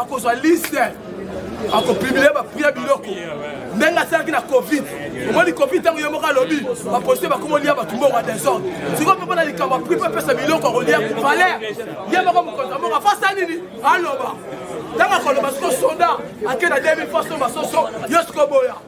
akozwa liste akopublie bapria biloko ndenge asalaki na covid omoni covid ntango ye moko alobi bapolisie bakomi olia bato mbongo ya desordre sikoyo mpe mpona likambo apri mpe apesa biloko akolia valer ye moko mokonzi ya mbongo afasa nini aloba ntango akoloba siko soda ake na 2000 faso basoso yo sikoboya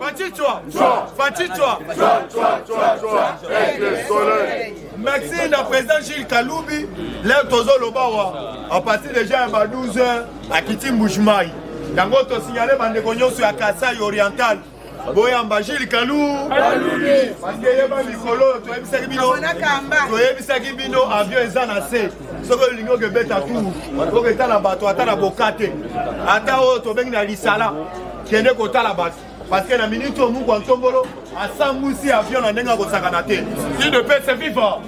Fachichwa Fachichwa Merci na président Gilles Kalubi leo tozoloba wa à partir déjà ya ba 12 heures akiti Mbujimayi yango tosignale bandeko nyonso ya Kasai oriental boyamba Gilles Kalou parce que yeba mikolo toyebisaki bino toyebisaki bino avion eza na se soki olingi okebeta tour oketala bato ata na boka te ata oyo tobengi na lisala kende kotala bato parce que na minute oyo mukwa ntombolo asambwisi avion na ndenge akosakana te si de paix c'est vivant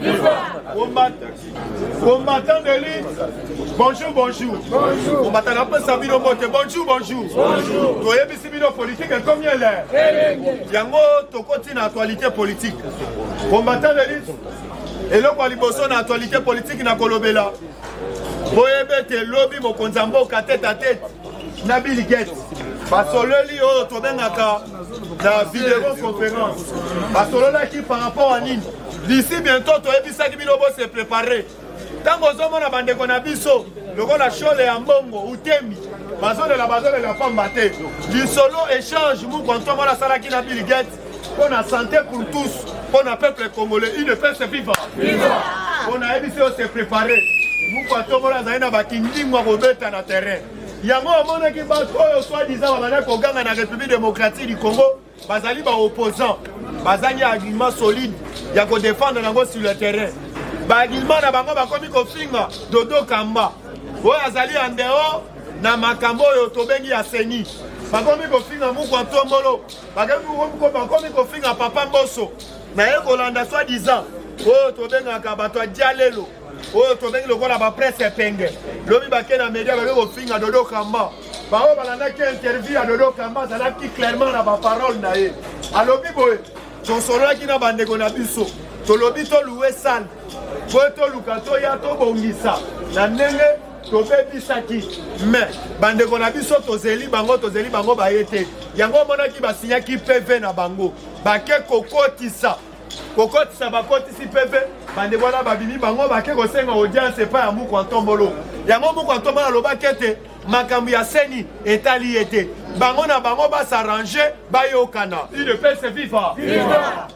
combattant de lutte bonjour bonjour combattant apesa bino mbote bonjour bonjour toyebisi bino politike ekomi ele yango tokoti na actualité politique combattant de lutte eloko ya liboso na actualité politique na kolobela boyebe te lobi mokonzi ya mboka tete a tete na Bill Gates basololi oyo tobengaka na video conférence basololaki par rapport à nini d'ici bientôt toyebisaki bino bo se préparer ntango ozomona bandeko na biso lokola shole ya mbongo utemi bazolela bazolela pamba te lisolo échange muku antoine wana asalaki na bill gates Pour la santé pour tous, pour le peuple congolais, il ne peut se vivre. On a dit se préparer. Vous pouvez tout le monde dans la kindingwa kobeta na terrain. yango omonaki bato oyo soi-disant babanda koganga na république démocratique du congo bazali baopposant bazangi argument solide ya kodefendre yango sur le terrain baargument na bango bakomi kofinga dodo kamba oyo azali ya ndeo na makambo oyo tobengi ya seni bakomi kofinga mukwa ntombolo bakomi kofinga papa mboso naye kolanda soit disant oyo tobengaka bato ya dialelo oyo tobengi lokola bapresse epenge lobi bake na media bake kofinga dodo kamba baoyo balandaki interview ya dodo kamba azalaki clairement na baparole na ye alobi boye tosololaki na bandeko na biso tolobi toluwe sale mpo toluka toya tobongisa na ndenge tobebisaki me bandeko na biso tozeli bango tozeli bango baye te yango omonaki basinyaki pv na bango bake kokotisa kokotisa bakotisi pv bandeko wana babimi bango bake kosenga audience epai ya muku antombolo yango muku antombolo alobaki ete makambo ya seni etali ye te bango na bango basarrange bayokana udps viva, viva.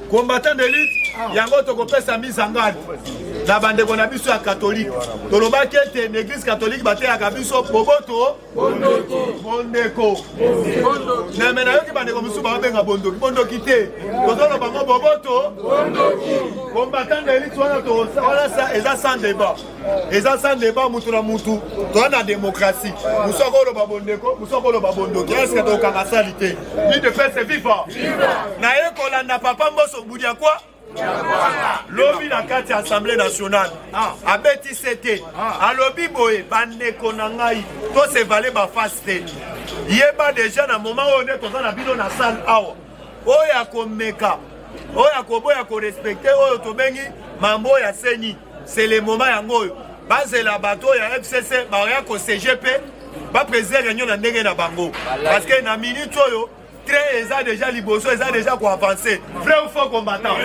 combattant de lutte yango tokopesa mise en garde na bandeko na biso ya katolike tolobaki ete na eglise katolike bateyaka biso boboto bondeko neme nayoki bandeko mosusu baobenga bondoki bondoki te tozoloba ngo boboto combattant de lutte wana eza sans debat eza sans débat mutu na mutu toza na démocratie mosu akoloba bondeko mosu akoloba bondoki eske tokanga sali te lide pese viva naye kolanda papa mboso budi ya kwa lobi na kati ya assemblée nationale ah. abeti se te ah. alobi boye bandeko na ngai tosevale bafasi te yeba deja na moment oyo nde toza na bino na salle awa oyo akomeka oyo akoboya korespecte oyo tobengi mambo ya seni C'est le moment yango oyo bazela bato oyo ya FCC baoya ko CGP ba président réunion na ndenge na bango parce que na minute oyo train eza déjà liboso eza déjà ko avancer vrai ou faux combattant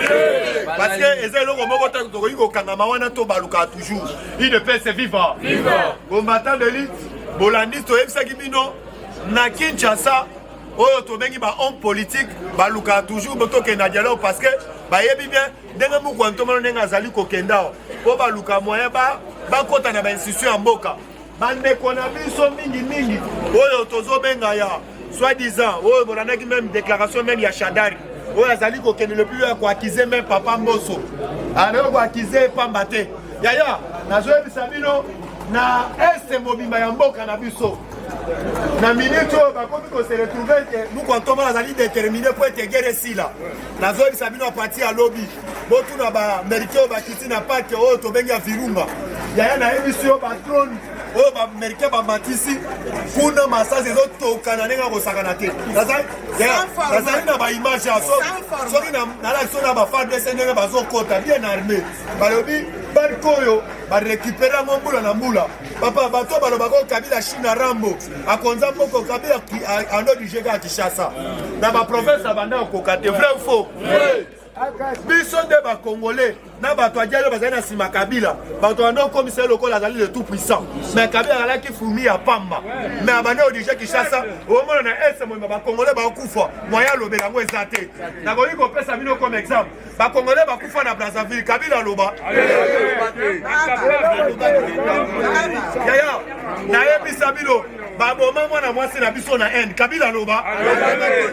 parce que eza eloko moko tango tokoki kokangama wana to baluka toujours il ne peut se vivre combattant de lutte bolandi toyebisaki bino na Kinshasa oyo tobengi ba homme politique balukaka toujours botokende na dialogue parce que bayebi bien ndenge moko antomano ndenge azali kokenda awa mpo baluka moyen bakota na bainstitution ya mboka bandeko na biso mingimingi oyo tozobenga ya soit disant oyo bolandaki meme déclaration meme ya shadari oyo azali kokende le plus ya koakize meme papa mboso anayo ah, koakize pamba te yaya nazoyebisa bino na este mobimba ya mboka na biso na minute oyo bakomi koseretrouve ete mokwa ntoma azali determine mpo ete gere esila nazoyebisa bino apati ya lobi botuna baamerikain oyo bakiti na pake oyo tobengi ya virunga yaya nayebisi yo batrone oyo baamerikain bamatisi kuna masasi ezotokana ndenge akosakana te nazali na baimage ya soki nalaki so na bafadese ndenge bazokota bien arme balobi barke oyo barekipere yango mbula na mbula papa bato balobaka oyo kabila china rambo akonza moko kabe ando dirige kaka kinshasa na baprovince abanda kokoka te vrai ou faux biso nde bacongolais na bato ajali bazali na nsima kabila bato banda okomisa ye lokola azali le tout puissant mais kabila azalaki fumi ya pamba mais abanda odirige kinshasa omona na est moyima bacongolais baokufa moyen alobela yango eza te nakoki kopesa bino comme exemple bakongole bakufa na brazzaville kabila aloba yaya nayebisa bino baboma mwana mwasi na biso na inde kabila aloba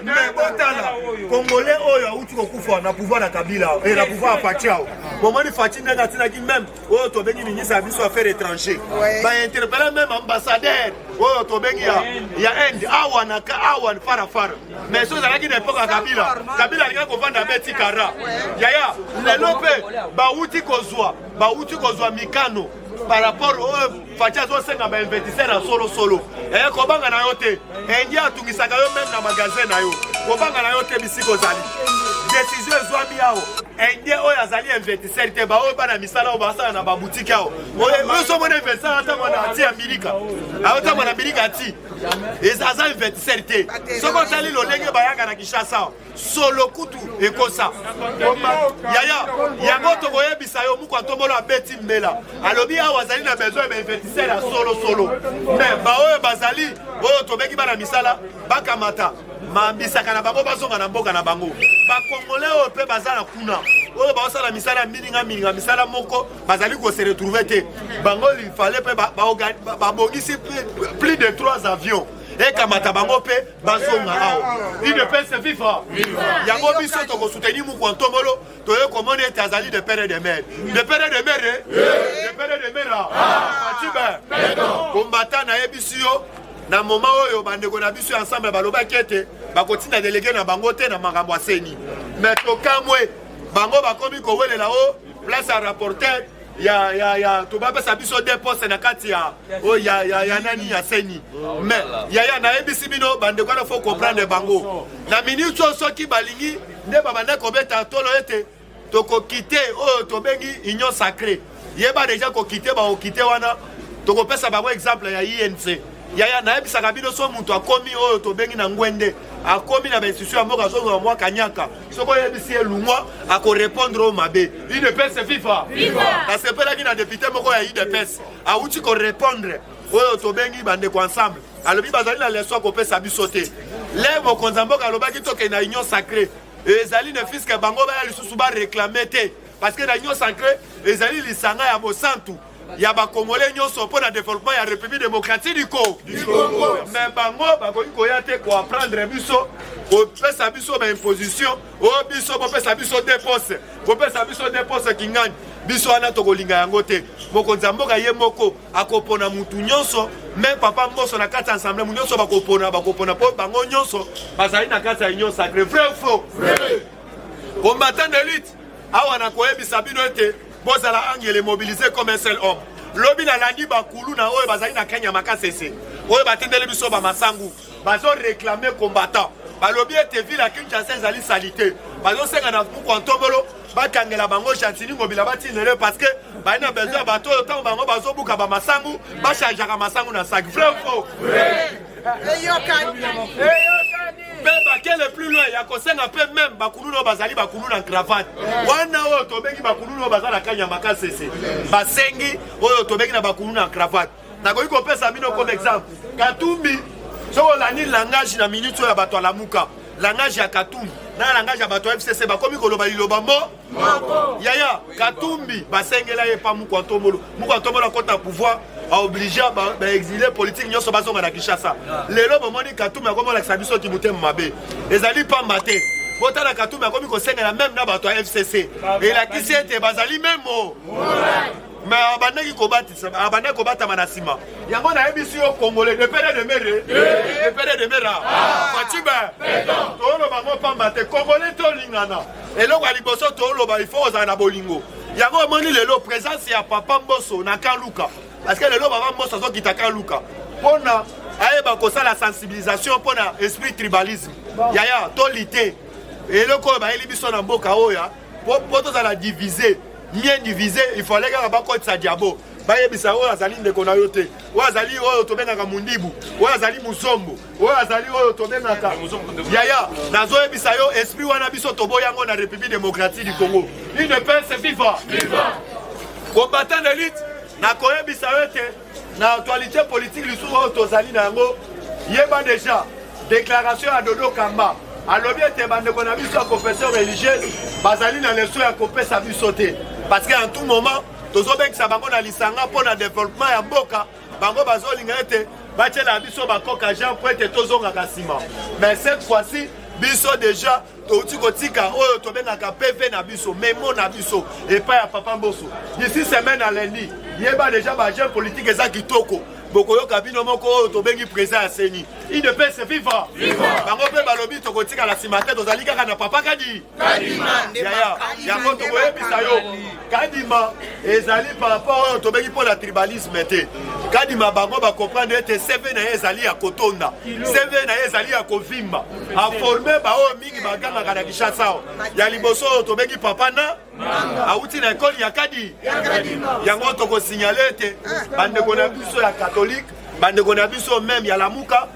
me botala kongole oyo awuti kokufa na pouvoir ya kabila e na pouvoir ya faci ao bomoni faci ndenge atinaki meme oyo oh, tobengi ministre ya biso affaire étranger bainterpele meme ambassadeur oyo oh, tobengi ya inde awa na awa farafara mais so ezalaki na epoke ya kabila kabila alingaki kovanda beti kara yaya lelo mpe bawuti kozwa bawuti kozwa mikano par rapport oyo oh, faci azosenga bainvestisseur ya solosolo eye eh, kobanga na yo te Indien atungisaka yo meme na magasin na yo kobanga na yo te bisika ozali desizio ezwami awo indien oyo azali investisseur te baoyo bana misala oyo basala na babutiki awo ozomona investisseur atangwa na ati ya milika aotangwa na milika ati aza investisseur te soki otali lolenge bayaka na kinshasa awa solo kutu ekosa yaya yango tokoyebisa yo muku atobolo abeti mbela alobi awa azali na besoin ya bainvestisseur ya solosolo me baoyo bazali oyo tobeki bana misala bakamata mambisaka na bango bazonga na mboka na bango bakongole oyo mpe baza na kuna oyo baosala misala ya mininga mininga misala moko bazali kose retrouve te bango lifale mpe babongisi plus de 3 avions ekamata bango mpe bazonga awa udps viva yango biso tokosuteni mokua ntombolo toye komona ete azali de pere de mere de pere de mere de pere de mere atibe kombata nayebisi yo na moma oyo bandeko na biso ya ensemble balobaki ete bakotinda delege na bango te na makambo ya seni me tokamwe bango bakomi kowelela o place ya rapporteur ya ya ya tobapesa biso de poste na kati ya oyo oh, ya ya ya nani ya seni oh, mais yaya nayebisi bino bandeko wana faut comprendre bango na minute oyo soki balingi nde babanda kobeta tolo ete tokokite oyo oh, tobengi union sacré yeba deja kokite bakokite wana tokopesa bango exemple ya inc yaya nayebisaka bino so moto akomi oyo tobengi na ngwende akomi na bainstitution ya mboka azozwa mwa kanyaka soki oyebisi ye lungwa akorepondre oyo mabe udps viva nasepelaki na depute moko ya udps awuti korepondre oyo tobengi bandeko ensemble alobi bazali na leso akopesa biso te le mokonzi ya mboka alobaki tokende na union sacré ezali ne fiske bango baya lisusu bareklame te parce que na union sacré ezali lisanga ya bosantu ya bakongole nyonso mpo na developpement ya république démocratique du congo me bango bakoki koya te koapprendre biso kopesa biso baimposition o oh, biso bopesa biso depose bopesa biso depose kingani biso wana tokolinga yango te mokonzi ya mboka ye moko akopona mutu nyonso me papa mboso na kati ya ensemble mu nyonso bakopona bakopona mpo bango nyonso bazali na kati ya union sacré vrai faux combattant de lutte awa na koyebisa bino ete bozala angele mobilise comme un seul homme lobi nalandi bakulu na oyo bazali na kenya makasese oyo batindeli biso bamasangu bazoreklame combattant balobi ete ville ya kinshasa ezali salite bazosenga na muku ya ntobolo bakangela bango gentini ngobila batindele parce que baye na besoin ya bato oyo ntango bango bazobuka bamasangu bachangeaka masangu na saki vrai faux eyokani mpe bakele plus loin ya kosenga mpe meme bakuluna oyo bazali bakulu na cravate wana oyo tobengi bakuluna oyo baza na kanya makasese basengi oyo tobengi na bakulu na cravate nakoki kopesa bino comme exemple katumbi soki olandi langage na minute oyo ya bato alamuka langage ya katumbi na langage ya bato ya fcc bakomi koloba liloba mo yaya katumbi basengela ye pa mukwa ntombolo mukwa ntombolo akota pouvoir aoblige baexile politike nyonso bazonga na kinshasa lelo bomoni katumbi akomi olakisa biso kimotema mabe ezali pamba te botala katumbi akomi kosengela meme na bato ya fcc elakisi ete bazali memo me abandaki abandaki kobatama na nsima yango nayebisi yo congolais de pere de mere de pere de mera facibe tooloba ngo pamba te congolais tolingana eloko ya liboso toloba il faut ozala na bolingo yango omoni lelo présence ya papa mboso na kan luka parce que lelo papa mboso azokita kan luka mpo na ayeba kosala sensibilisation mpo na esprit tribalisme yaya tolite eloko oyo bayeli biso na mboka oyo mpo tozala divise bien divise il fallait kaka bakotisa diabo bayebisa oyo azali ndeko na yo te oyo azali oyo tobengaka mundibu oyo azali muzombo oyo azali oyo tobengaka yaya nazoyebisa yo esprit wana biso toboyi yango na république démocratique du congo udps viva combattant d'élite nakoyebisa yo ete na actualité politique lisusu oyo tozali na yango yeba déjà déclaration ya dodo kamba alobi ete bandeko na biso ya confession religieuse bazali na leso ya kopesa biso te parce que en tout moment tozobengisa bango na lisanga mpo na developpement ya mboka bango bazolinga ete batyela biso bakoka jean mpo ete tozongaka nsima mais cette fois-ci biso deja touti kotika oyo tobengaka pv na biso memo na biso epai ya papa mboso d'ici semaine alendi yeba deja bajeune politique eza kitoko bokoyoka bino moko oyo tobengi président ya seni idps viva bango mpe balobi tokotikala nsima te tozali kaka na papa kadi kadima yaya yango tokoyebisa yo kadima ezali par rapport oyo tobengi mpo na tribalisme te kadima bango bakomprendre ete seve na ye ezali ya kotonda seve na ye ezali ya kovimba aforme baoyo mingi bagangaka na kinshasa awa ya liboso oyo tobengi papa na awuti na ekole ya kadi yango tokosignale ete ah, bandeko na biso ya katolike bandeko na biso meme ya lamuka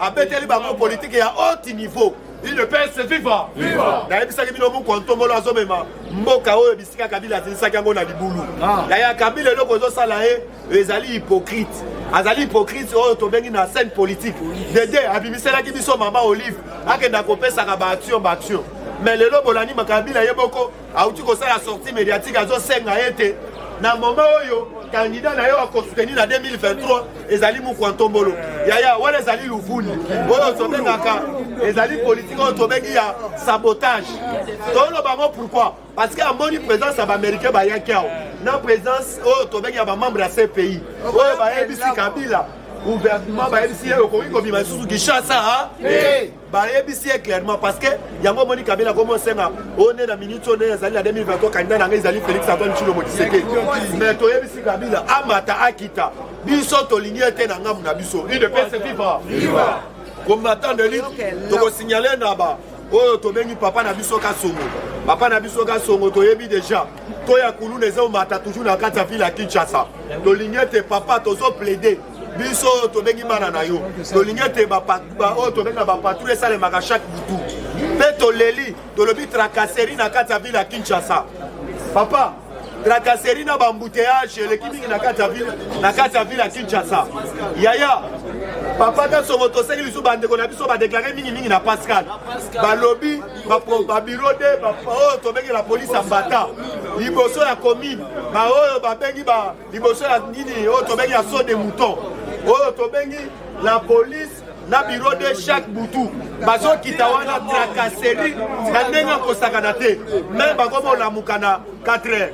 abeteli bango politike ya haute niveau udps viva viva nayebisaki bino buku ntombolo azomema mboka oyo bisika kabila azilisaki yango na libulu ah. na ya kabila eloko ezosala ye ezali hypocrite azali hypocrite oyo tobengi na scène politique dede abimiselaki biso mama olive akenda kopesaka baaction baaction mais lelo bolandi makabila ye boko auti kosala sortie médiatique azosenga ete na moma oyo kandida na yo akosoutenir na 2023 ezali mokwa ntombolo yaya wana ezali luvuni oyo tobengaka ezali politike oyo tobengi ya sabotage toloba yango pourquoi parce que amoni présence ya baaméricain bayaki awa na présence oyo tobengi ya bamembre ya cpi oyo bayebisi kabila gouvernement bayebisi ye okoki kobima lisusu kinshasa bayebisi ye clairement parce que yango omoni kabila komi osenga oyo nde na minute oyo nde ezali na 2023 kandida na ngai ezali félix antoine tshilombo tshisekedi mais toyebisi kabila amata akita biso tolingi ye te na ngambo na biso udps viva combattant de lutte tokosignale na ba oyo tobengi papa na biso kasongo papa na biso kasongo toyebi deja to ya kuluna eza omata toujours na kati ya ville ya kinshasa tolingi ete papa tozo plaide biso oyo tobengi bana na yo tolingi ete oyo tobenga bapatrouille esalemaka chaque butu mpe toleli tolobi tracasserie na kati ya ville ya kinshasa papa tracasserie na bambouteillage eleki mingi na kati ya ville ya kinshasa yaya papa kasongo toseki lisusu bandeko na biso badeklare mingimingi na pascal balobi babiro de oyo tobengi la polise ya mbata liboso ya commune baoyo babengi ba liboso ya nini oyo tobengi ya saut de mouton oyo tobengi la police na bureau de chaque butu bazokita wana tracasserie na ndenge ya kosakana te me bakomi olamuka na 4 heures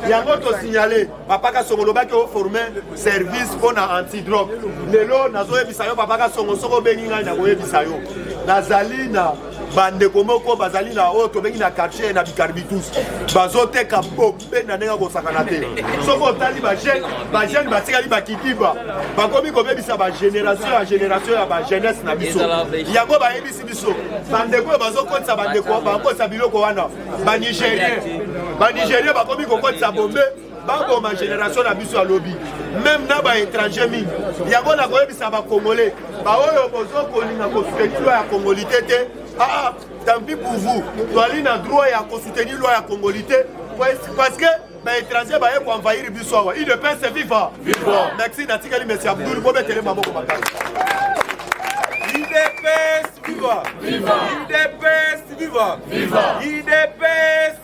yango tosignale papa kasongo olobaki oforme service mpo na antidrogue lelo nazoyebisa yo papa kasongo soki obengi ngai nakoyebisa yo nazali na bandeko moko bazali na oyo tobengi na quartier na bicarbitus bazoteka boki benda ndenge akosakana te soki otali bajeune bajeune batikali bakidiba bakomi kobebisa bagénération ya génération ya bajeunesse na biso yango bayebisi biso bandeko oyo bazokotisa bandeko bakotisa biloko wana banigérien banigérien bakomi kokotisa bombe baboma génération na biso ya lobi meme na baétranger mingi yango nakoyebisa bacongolais baoyo bozokolinga kosoutenir ya congolité te aa ah, ah, tant pis pour vous toali na droit ya kosoutenir loi ya congoli te parce que baétranger baye koenvahir biso awa udps viva merci natikali mesi abdul bobetele maboko makasi udps viva udps viva udps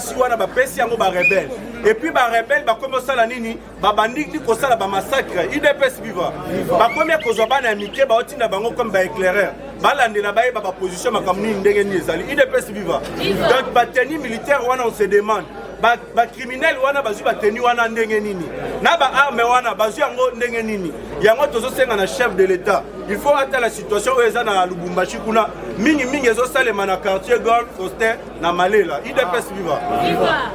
basi wana bapesi yango barebele epuis barebele bakomi osala nini babandi ni kosala bamassacre udps viva bakomi kozwa bana ya mike baotinda bango comme baéclaireur balandela bayeba baposition makambo nini ndenge nini ezali udps viva donc bateni militaire wana on se demande bakriminele ba wana bazwi bateni wana ndenge nini na baarme wana bazwi yango ndenge nini yango tozosenga na chef de l'etat il faut atala situation oyo eza na lubumbashi kuna mingimingi ezosalema na quartier golf foster na malela idps viva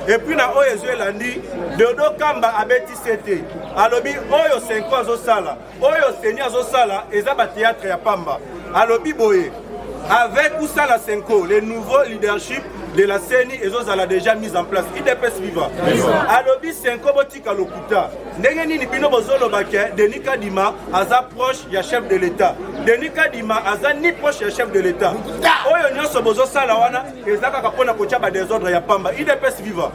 epuis na oyo ezwi elandi deodo kamba abeti sete alobi oyo senko azosala oyo seni azosala eza bateatre ya pamba alobi boye avec ou sans la senko le nouveau leadership de la ceni ezozala déjà mise en place idps viva alobi senko Tika lokuta. Ndenge nini bino bozoloba ke Denis Kadima aza proche ya chef de l'État. Denis Kadima aza ni proche ya chef de l'État. Oyo nyonso bozosala wana eza kaka mpona kotya ba desordre ya pamba. IDPS viva.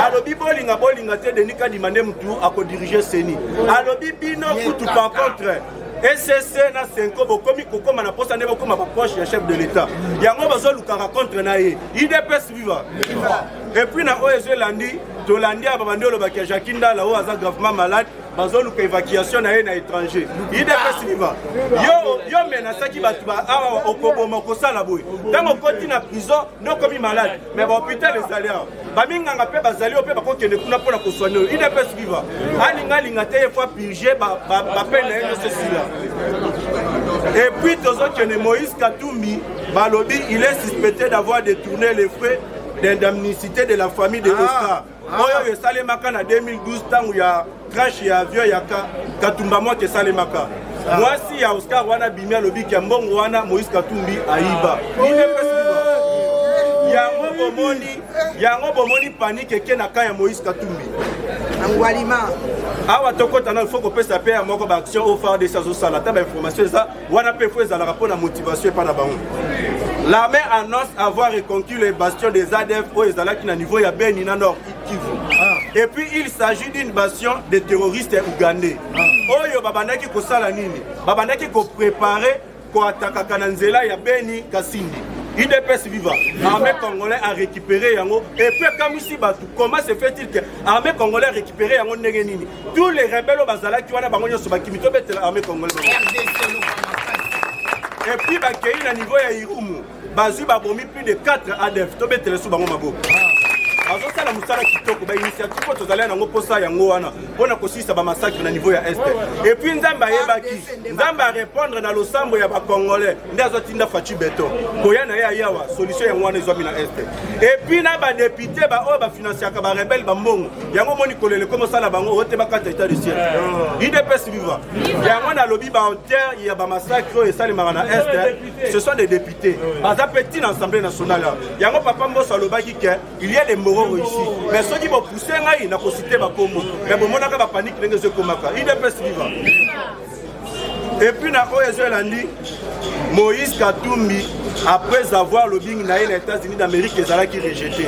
Alobi bolinga bolinga te Denis Kadima nde mutu akodirige CENI. Alobi bino kutu par contre ecc na senko bokomi kokoma na posa nde bokoma baproche ya chef de l'etat yango bazolukaka contre na ye idps viva epuis na oyo ezo elandi tolandi ya babandi olobaki ya jacqui ndala oyo aza gravement malade bazoluka évacuation na ye na étranger idps viva yo yo menasaki bato ba awa okoboma okosala boye ntango okoti na prison nde okomi malade mais bahopital ezali awa baminganga mpe bazali oyo mpe bakokende kuna mpo na koswane oyo idps viva alinga alinga te ye fo apurge bape na ye nyonso esila epuis tozokende moïse katumbi balobi il est suspecté d'avoir détourné les frais d'indemnicité de la famille de ah, Oscar ah. oyo oyo esalemaka na 2012 ntango ya crash ya avion ya katumba moto esalemaka ah. mwasi ya Oscar wana bimi alobi ke mbongo wana Moïse Katumbi ayiba yango bomoni yango bomoni panike eke na ka ya Moïse Katumbi awa tokota na il faut kopesa mpe ya moko baaction oyo fardc azosala ata bainformation eza wana mpe fo ezalaka mpo na motivation epai na bango l'armée annonce avoir reconquis les bastions des adf oyo ezalaki na niveau ya beni na nord kivu ah. et puis il s'agit d'une bastion de terroristes ougandais ah. oyo babandaki kosala nini babandaki koprepare koatakaka na nzela ya beni kasindi idps viva armée congolais a récupéré yango epuis akamwisi bato comment se fait-il que armée congolais a récupéré yango ndenge nini tous les rebelles bazalaki wana bango nyonso bakimi tobetela armée congolaise et puis bakei na niveau ya irumu bazwi babomi plus de 4 adf tobetela su bango maboko bazosala mosala kitoko bainitiative oyo tozali yango mposa yango wana mpo na kosilisa bamasakre na niveau ya este epuis nzambe ayebaki nzambe arépondre na losambo ya bacongolais nde azotinda faci beton koya na ye ayawa solution yango wana ezwami na este epuis na badepute baoyo bafinanciaka barebele bambongo yango omoni kolele koma sala bango oyo te bakata etat de ciel idps viva yango nalobi baauteur ya bamasacre oyo esalemaka na est eh, ce sont des députés baza mpe ntina assemblée nationale yango papa mboso alobaki ke il y a des mororo ici mais soki bopousse ngai nakosite bakombo mais bomonaka bapanike ndenge ezokomaka idps viva epuis na oyo ezo elandi moïse katumbi après avoir lobingi na ye na états-unis d'amérique ezalaki rejete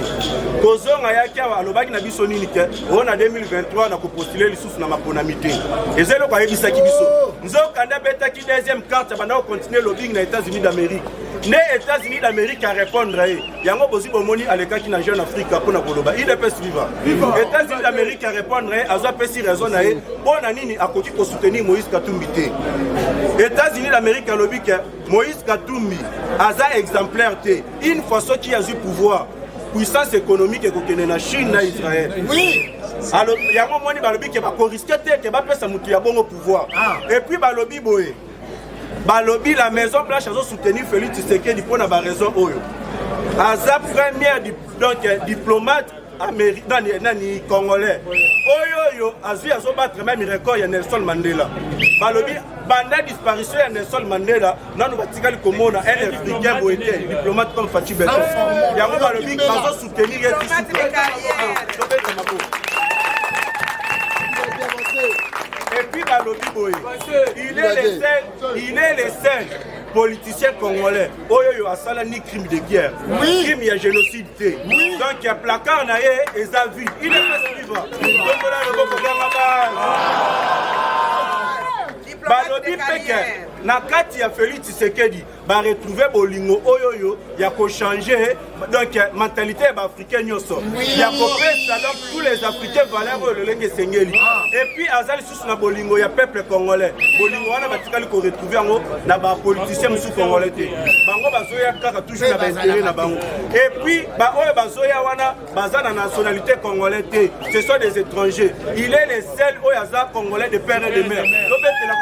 kozonga yaki awa alobaki na biso nini te oyo na 2023 na kopostule lisusu na maponami te eza eloko ayebisaki biso nzokande abetaki deuxième carte abanda kocontinue lobingi na états-unis d'amérique nde Etats-Unis d'Amerique a répondre ye yango bozi bomoni alekaki na jeune afrique mpo na koloba udps viva Etats-Unis d'Amerique a répondre ye azwa pesi raison na ye mpo na nini akoki kosoutenir Moïse Katumbi te Etats-Unis d'Amerique alobi ke Moïse Katumbi aza exemplaire te une fois soki azwi pouvoir puissance économique ekokende na chine na israel oui. yango moni balobi ke bakoriske te ke bapesa motu ya bongo pouvoir ah. epuis balobi boye balobi la maison blanche azo soutenir Félix Tshisekedi mpo na ba raison oyo aza première donc diplomate Amérique, nani, nani congolais oyo oyo azwi azobattre meme record ya Nelson Mandela balobi banda disparition ya Nelson Mandela nanu batikali komona un africain boye te diplomate comme Fatshi Beton yango balobi bazo epuis balobi boye il est le seul il est le seul politicien congolais oyo oyo asala ni crime de guerre oui. crime ya génocide te oui. donc ya placard na ye eza vide il est pas suivre tokola loboko byanga base balobi peke na kati ya félix tshisekedi ba retrouver bolingo oyo oyo ya ko changer donc mentalité ya ba africain nyonso ya ko pesa donc tous les africains valeur oyo lolenge esengeli ah. et puis aza lisusu na bolingo ya peuple congolais bolingo wana batikali ko retrouver yango na ba politiciens mosusu congolais te bango bazoya kaka toujours na ba intérêt na bango et puis ba oyo bazoya wana baza na nationalité congolais te ce sont des étrangers il est le seul oyo aza congolais de père et de mère tobetela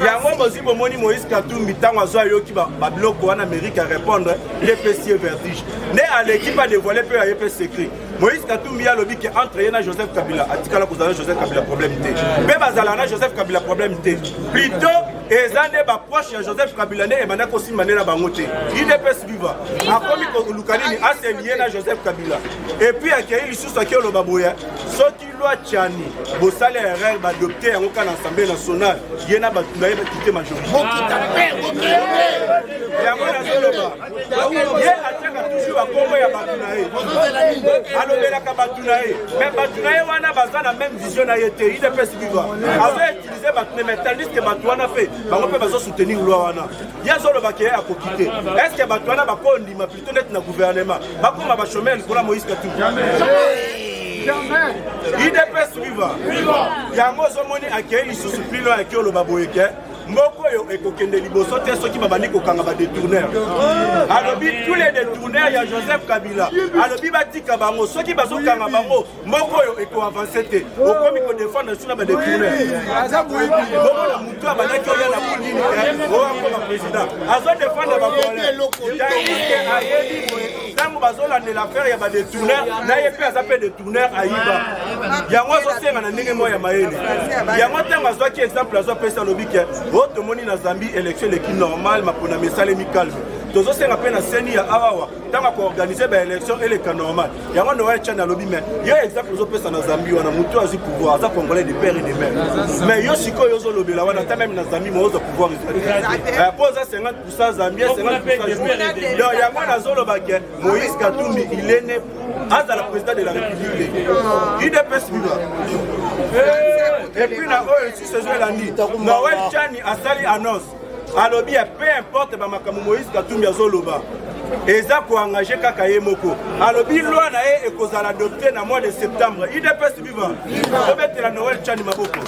yango bozwi bomoni moïse katumbi ntango azwa ayoki babiloko wana amerike ya répondre nde epesi ye vertige nde aleki mpe adevoile mpe aye mpe secret moïse katumbi alobi ke entre ye na joseph kabila atikala kozala na joseph kabila problème te mpe bazalaka na joseph kabila problème te plutôt eza nde baproche ya joseph kabila nde ebanda kosimba nde na bango te idps viva akomi koluka nini aseliye na joseph kabila epuis akei lisusu akei oloba boye soki lwa tiani bosali ya erreur baadopte yango kaka na assemblée nationale ye na bato na ye bakite majorité yango nazoloba ye atiaka toujours bakombo ya bato na ye alobelaka bato na ye me bato na ye wana baza na meme vision na ye te idps viva azo utiliser bato ne metandis ke bato wana mpe bango mpe bazo soutenir loi wana ye azoloba ke akoki te est ce que bato wana bakoyo ndima plutôt neti na gouvernement bakoma bachomere likolo ya moïse katumbi idps viva yango ozomoni akei lisusu pilo ya kioloba boye ke moko oyo ekokende liboso te soki babandi kokanga badetourneur alobi tous les detourneur ya joseph kabila alobi batika bango soki bazokanga bango mboka oyo ekoavanse te okomi kodefendre biso na badetourneomona motu abandaki oya na pudini oakoma président azo defendre bakoletaike ayebi boye ntango bazolandela affaire ya badetourner na ye mpe aza mpe detourner ayiba yango azosenga na ndenge moko ya mayele yango ntango azwaki exemple azo apesa alobi ke o oh, tomoni na zambie élection eleki normal maponami esalemi calme tozosenga mpe na seni ya awawa ntango akoorganize baélection eleka normal yango noel chani alobi mai yo exemple ozopesa na zambi wana motu azwi pouvoir aza congolais de père et de mère mais yo sikoyo ozolobela wana ata meme na zambi mo ozwa pouvoir eh, mpo oza 50 pourcent zambien 50 pourcent donc yango nazoloba ke moïse katumbi il est né azala président de la république udps biba epuis na oyo lisusu ezo elandi noel chani asali annonce alobi ya peu importe bamakambo moïse katumbi azoloba eza koengage kaka ye moko alobi loi na ye ekozala adopte na mois de septembre idps viva tobetela noel chani maboko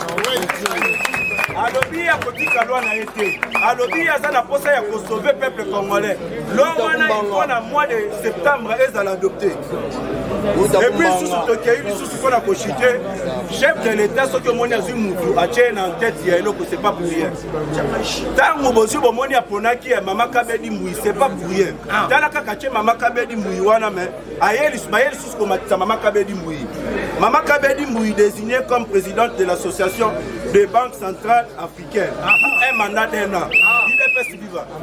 alobi akotika loi na ye te alobi aza na mposa ya kosauve peuple congolais loi wana ifo na mois de septembre ezala adopte epuis lisusu tokei lisusu mpo na kochute chef de l'état soki omoni azwi mutu atye na ntete ya eloko c'est pas pour rien ntango bozwi bomoni aponaki ya mama kabedi mbui c'est pas pour rien ah. tala kaka tie mama kabedi mbui wana me aye lisusu komatisa mama kabedi mbui mama kabedi mbui désigné comme présidente de l'association des banques centrales africaines ah. un mandat d'un an ah.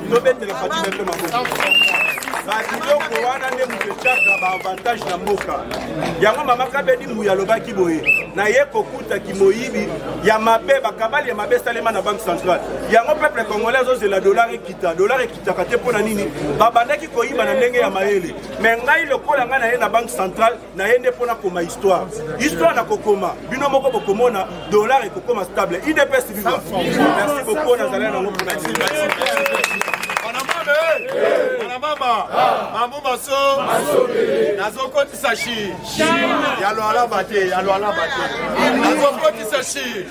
tobetela fati beton maboko babiloko wana nde moto etyaka baavantage na mboka yango mama kabedi mbuya alobaki boye naye kokuta kimoyibi ya mabe bakabali ya mabe esalema na banque centrale yango peuple congolais azozela dollar ekita dollar ekitaka te mpo na nini babandaki koyiba na ndenge ya mayele me ngai lokola ngai naye na banque centrale naye nde mpo nakoma histoire histoire nakokoma bino moko bokomona dollar ekokoma stable idps viva merci beaucoup nazali nango mpona mama mamu maso nazokotisa shi ya lwalaba te ya lwalaba te nazokotisa shi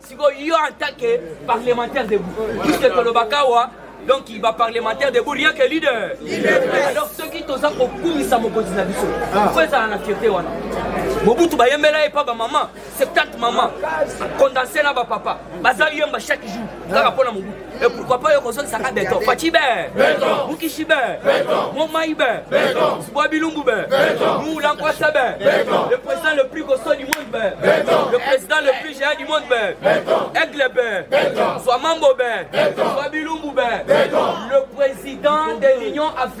siko yo en tant que parlementaire debout puisque tolobaka wa donc ba parlementaire debout rien que leader alors soki toza kokumisa mokonzi na biso ah. fo ezala na fierte wana mobutu bayembela ye mpa bamama 70 mama condense na bapapa baza yemba chaque jour kaka mpo na mobutu Et pourquoi pas yoko soki saka beton Fachi be Beton Mukishi be Beton Momai be Beton Sboa Bilumbu be Beton Moula Nkwasa be Beton Le président le plus costaud du monde be Beton Le président le plus géant du monde be Beton Aigle be Beton Swa Mambo be Beton Swa Bilumbu be Beton Le président de l'Union africaine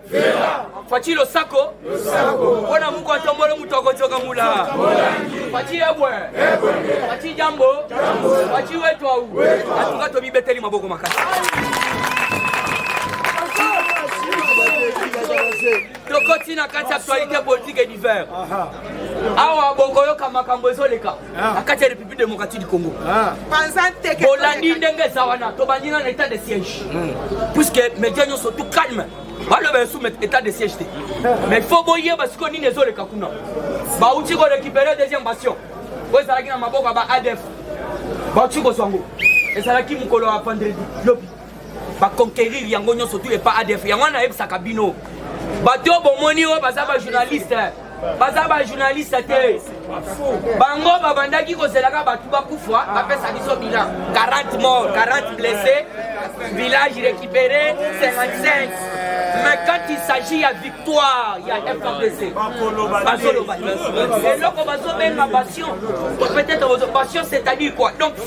Fatshi losako mpona muku atombolo moto akojoka mula Fatshi ebwe Fatshi jambo Fatshi wetu au atuka tomibeteli maboko makasi tokoti na kati actualité politique et divers awa bokoyoka makambo ezoleka Ah. na kati ya république démocratique du congo ah. bolandi ndenge eza wana tobandi na na état de siège hmm. puisque média nyonso tout calme baloba esu état de siège te mais faut boyeba sikoyo nini ezoleka kuna bauti korécupere deuxième bastion oyo ezalaki na maboko ya ba adf bauti kozwa yango ezalaki mokolo ya vendredi lobi ba conquérir yango nyonso tout epa adf yango wana nayebisaka bino bato oyo bomoni oyo baza bajournaliste baza bajournaliste te bango babandaki kozelaka bato bakufa bapesa biso bilan 40 mort 40 blessé village récupéré 55 mais quand il s'agit ya victoire ya frdc bazoloba eloko bazobenga passion peut-être passion c'est-à-dire quoi donc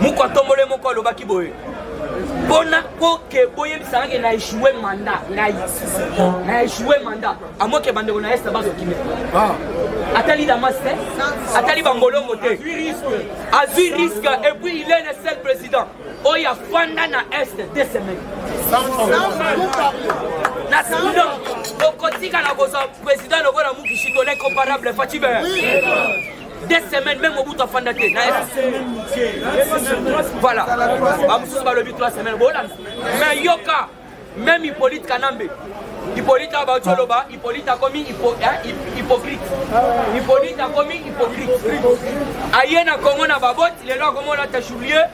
moko atombole moko alobaki boye mpona mpo ke boyebisaka ke na echoue manda ngai na echoue manda amoke bandeko na este bazokime ah. atali damas te atali bangolongo te azwi risque et puis il est le seul président oyo afanda na est deux semaines na soudan okotika na kozwa président lokola mukishito l'incomparable fatibe deux semaines meme mobutu afanda te na voilà bamosusu balobi trois semaines bolanda mais yoka meme hippolyte kanambe hippolyte awa bauti oloba hippolyte akomi hypocrite hippolyte akomi hypocrite aye na congo na baboti lelo akomona ta julie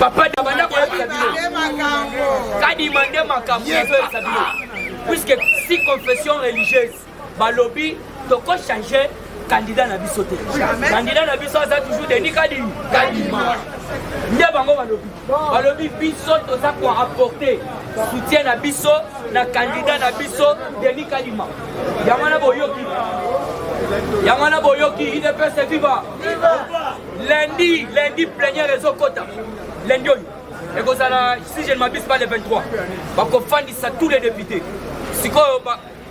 papa abanda koyebisa bino kadima nde makambo ezoyebisa bino puisque si confession religieuse balobi toko change candidat na biso te candidat na biso aza toujours denis kadima kadima nde bango balobi balobi biso toza koapporte soutien na biso na kandida na biso denis kalima yango wana boyoki yango wana boyoki idps viva lundi lundi plenière ezokota lundi oyo ekozala si je ne m'abuse pas le 23 bakofandisa tous les députés sikoyo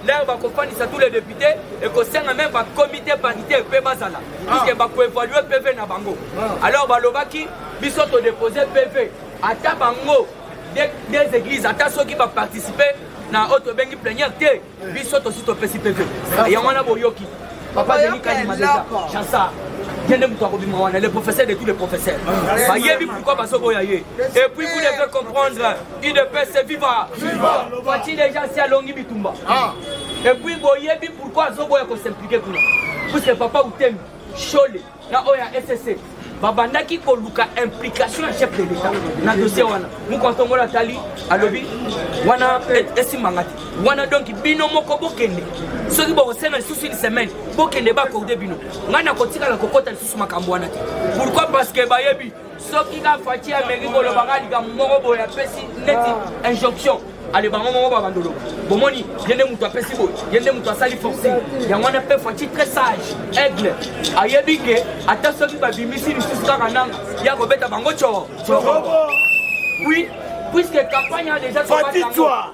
lere bakofandisa tous les députés ekosenga meme bacomité paritaire mpe bazala ah. puiske bakoevalue pv na bango ah. alors balobaki biso todepose pv ata bango des églises ata soki baparticipe na oyo tobengi plenière te biso tosi topesi peve yango wana boyoki papa deni kalima deja chansa ye nde moto akobima wana le professeur de tous les professeurs bayebi pourquoi bazoboya ye et puis vous devez comprendre udps viva fati deja si alongi bitumba et puis boyebi pourquoi azoboya kosimplike kuna puisque papa utemi shole na oyo ya ssc babandaki koluka implication ya chef de l'etat na dossier wana mokontongola atali alobi wana e, esimbanga te wana donk bino moko bokende soki bokosenga lisusu une semaine bokende bakorde bino ngai nakotikala kokota lisusu makambo wana te pourquoi parce que bayebi soki ka fati ameki koloba ka likambo moko boye apesi neti injonction ale bango moko babandolo bomoni ye nde moto apesi boye ye nde moto asali forcing yango wana mpe fati très sage aigle ayebi ke ata soki babimisi lisusu kaka nanga ye akobeta bango coo oui puisque campagne a déjà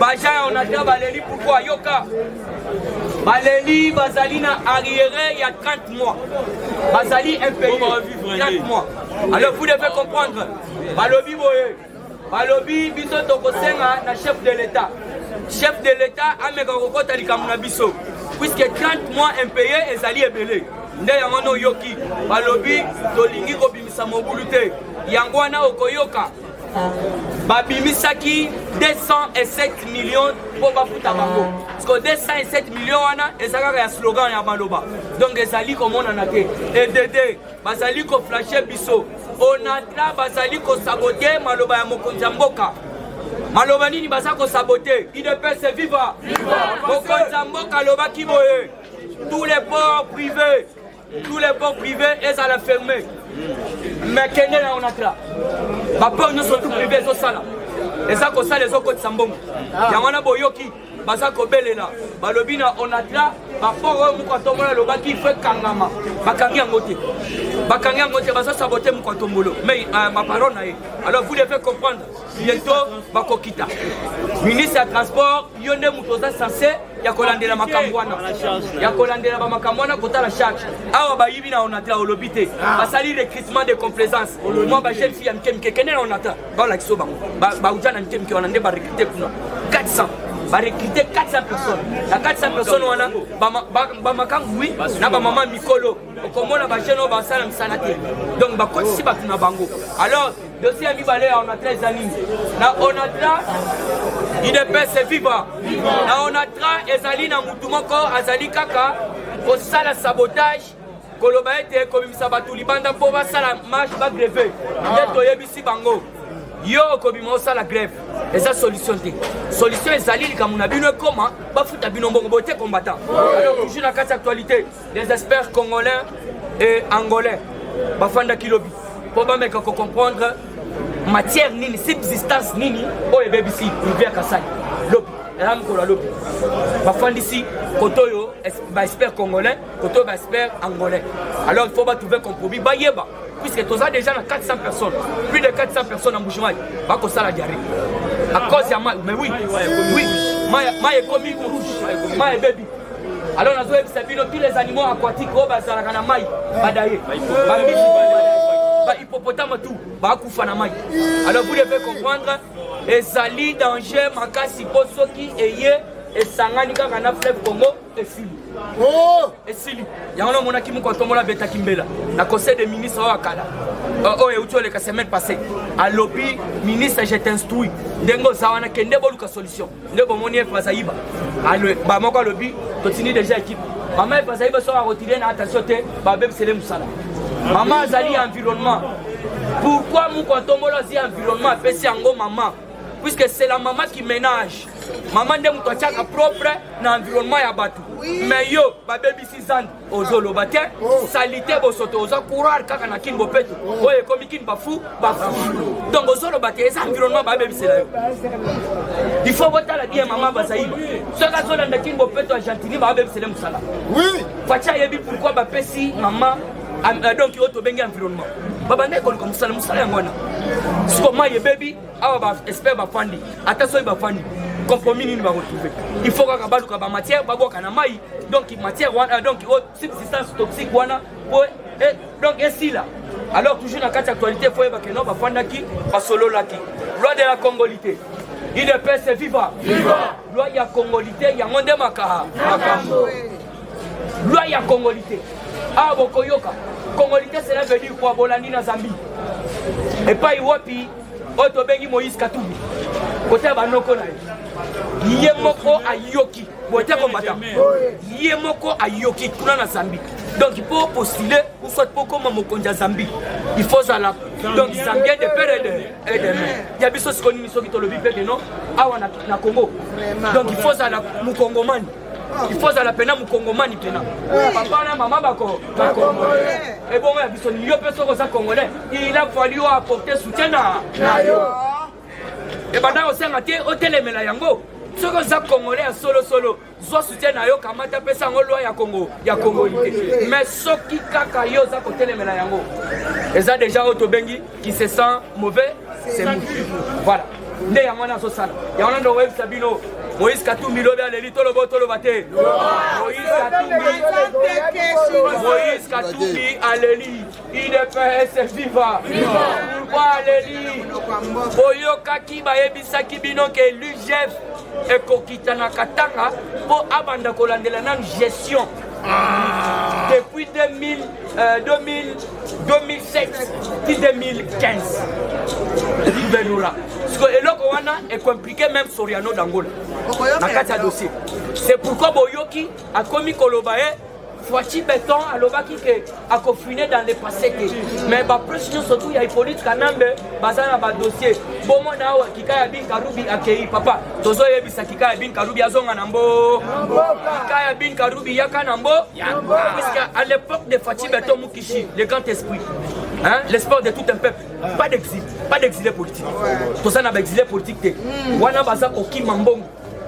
baja ya onatra baleli pourkoi yoka baleli bazali na arriere ya 30 mois bazali impayé 30 mois alors vous devez comprendre balobi boye balobi biso tokosenga na chef de l'état chef de l'état ameka kokota likambo na biso puisque 30 mois impayé ezali ebele nde yango wana oyoki balobi tolingi kobimisa mobulu te yango wana okoyoka babimisaki 207 million mpo bafuta bango parceke 207 million wana eza kaka ya slogan ya maloba donc ezali komonana te edede bazali koflashe biso onatra bazali kosabote maloba ya mokonzi ya mboka maloba nini baza kosabote idepese viva mokonzi ya mboka alobaki boye tous les ports privés tous les ports privés ezala ferme mais kende na onatra baport nyonso tout privé ezosala eza kosala ezokotisa mbongo ah. yango wana boyoki baza kobelela balobi na onatra baport oyo mokwatombolo alobaki fo ekangama bakangi yango te bakangi yango te bazosabote mokwatombolo mais euh, baparole na ye alors vous devez comprendre bientôt bakokita ministre ya transport yo nde moto oza sense ya kolandela makambo wana ya kolandela bamakambo wana kotala charge awa bayibi na onatra olobi te ah. basali recrutement de complaisance mwa bajeune fille ya mike mike kende na onatra baolakisa bango bauja na mike mike wana nde barecrute kuna 400 barecrute 400 personnes na 400 personnes wana bamakambo wi na bamama mikolo okomona bajeune oyo basala misala te donc bakotisi bato na bango alors dosie ya mibale ya onatra eza nini na onatra idepese viva na onatra ezali na motu moko azali kaka kosala sabotage koloba ete kobimisa bato libanda mpo basala marche bagreve nde toyebisi bango yo okobima osala greve eza solution te solution ezali likambo na bino ekoma bafuta bino mbongo bote combattant alors toujours na kati actualité les experts congolais et angolais bafandaki lobi mpo bameka kocomprendre matière nini subsistance nini oyo ebebisi rivière kasai lobi eza mokolo ya lobi bafandisi koto oyo baexpert congolais koto oyo baexpert angolais alors il faut batrouve compromis bayeba puisque toza déjà na 400 personnes plus de 400 personnes en bouchemai bakosala diarrhée à cause ya mai mais oui oui mai ekomi rouge mai ebebi Alors nazoyebisa bino tous les animaux aquatiques oyo bazalaka na mai badaye bambisi bahippopotame tout bakufa na mai alors vous devez comprendre ezali danger makasi mpo soki eye esangani kaka na fleuve congo esili oh! esili yango namonaki moko atombola abetaki mbela na conseil de ministre oyo akala euh, oyo euti oleka semaine passé alobi ministre je t'instruis ndenge oza wana kende boluka solution nde bomoni efrasa yiba bamoko alobi totindi deja ekipe mama efrasa yiba soki akotide na attention te babebisele mosala mama azali environnement pourquoi mukontombolo azwi environnement apesi yango mama puisque c'est la mama qui ménage mama nde moto atiaka propre na environnement ya bato mais yo babebisi zando ozoloba te oh. salite bosoto oza courage kaka na kin bopeto oh. oyo ekomi kin bafu bafu donc ozoloba te eza environnement babebisela yo il faut botala bien mama bazaiba soki azolanda kin bopeto ya gentini babebisele mosala faci ayebi pourkui bapesi mama euh, donc oyo tobengi environnement babandaki koluka mosala mosala yango wana sikoyo mai ebebi awa ba expert bafandi ata soki bafandi compromis nini baretrouve il faut kaka baluka bamatière babwaka na mai donc matière wana euh, donc oh, subsistance toxique wana po eh, donc esila alors toujours na kati ya actualité fo oyeba keno bafandaki basololaki loi de la congolité idps viva loi ya congolité yango nde makaha makambo loi ya congolité awa ah, bokoyoka congolité cela veut dire quoi bolandi na zambie epai wapi oyo tobengi moïse katumbi kotala banoko na ye ye moko ayoki bote kombata ye moko ayoki kuna na zambi donc mpo postule ou soit mpo koma mokonzi ya zambi il faut zala donc zambien de pere et de mai ya biso siko nini soki tolobi mpe keno awa na congo donc il faut zala mokongomani il faut azala mpena mokongomani mpena papa na mama bako bakongole ebongo ya biso yo mpe soki oza congolais il a fallu yo apporter soutien na yo ebanda kosenga te otelemela yango soki oza congolais ya solosolo zwa soutien na yo kamata apesa yango lwa ya kongo ya kongo te mais soki kaka yo oza kotelemela yango eza deja oyo tobengi qui se sent mauvais c'est mou voilà nde yango wana azosala yango wana ndo oyebisa bino moïse katumbi lobi aleli tolobo toloba te moïse katumbi aleli idps viva pourkoi aleli boyokaki bayebisaki bino ke lugf ekokitana katanga mpo abanda kolandela nanu gestion ah. depuis 2000 Euh, 2000, 2007 ti 2015 libelula siko eloko wana ekomplike meme soriano dangola na kati ya dossier c'est pourquoi boyoki akomi koloba ye eh, Fatshi Beton alobaki ke akofine dans le passé te mais bapresse nyonso tu ya hippolyte kanambe baza na badossier bomona awa kika ya binkarubi akei papa tozoyebisa kikaya bin karubi azonga na mbo kikaya bin karubi yaka na mbo puisque à l'époque de fachi beton mukishi le grand esprit Hein? l'espoir de tout un peuple pas d'exil pas d'exilé politique toza na baexilé politique te hmm. wana baza kokima mbongo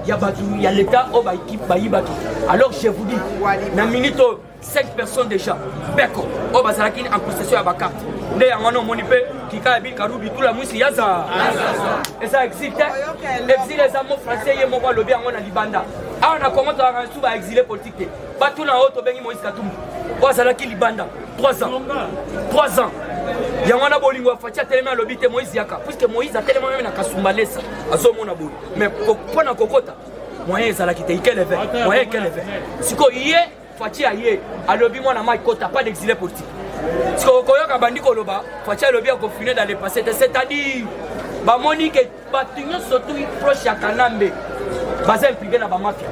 ya bato ya leta oyo bayiba te alors je vous dis na minute oyo 5 personnes déjà beko oyo bazalaki en prestation ya bacarte nde yango wana omoni mpe kikaya bikarubi tula mwisi yaza eza exil te exil eza mo français ye moko alobi yango na libanda awa na congo tozalaka lisusu baexile politique te bato na oyo tobengi moïse katumbi oyo azalaki libanda 3 ans 3 ans yango wana bolingo ya faci atelemi alobi te moïse yaka puiske moïse atelema meme na kasumba lesa azomona boye mais mpo na kokota moyen ezalaki te ikeleve moyen ekeleve sikoyo ye Fatshi aye alobi mwana mai kota pas d'exilé politique. Siko koyoka bandi koloba Fatshi alobi akofine dans le passé te c'est-à-dire bamoni ke bato nyonso tu proche ya Kanambe baza impliqué na ba mafia.